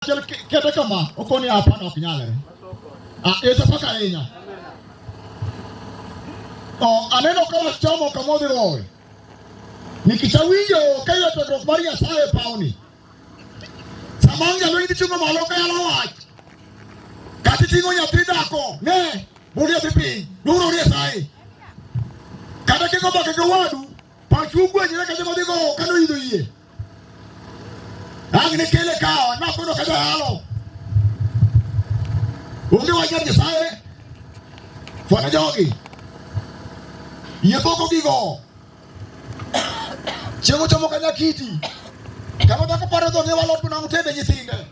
achiel kete kama okoni hapana ok nyalre ah, esa paka ahinya oh, aneno ka wachomo kama odhi rowe nikichawinjo ka iwe tudruok mar nyasaye e pawni sama nyalo idhi chungo malo ka yalo wach kata iting'o nyathi dhako ne bur nyathi piny duro nyasaye kata kiko mbaka gi wadu pachu ugwenyre kata modhi go kano idho yie Lakini kile kawa na kuno kaja halo. Unge waje kisae. Fona jogi. Yepoko gigo. Chego chomo kanya kiti. Kama tako paro dho ne walot na utende nyithinde.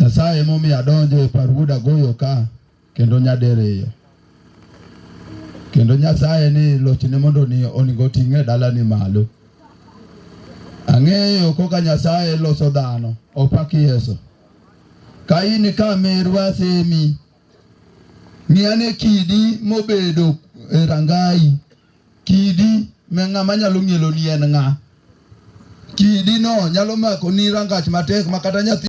Nyasaye emomiyo adonjo e parwood agoyo ka kendo nyadiriyo kendo Nyasaye ni lochne mondo ni oningo ting'e dalani malo. Ang'eyo koka Nyasaye loso dhano opak Yesu. Ka in ka merwa semi ng'iane kidi mobedo e rangai Kidi me ng'ama nyalo ng'ielo ni en ng'a. Kidi no nyalo mako ni rangach matek ma kata nyathi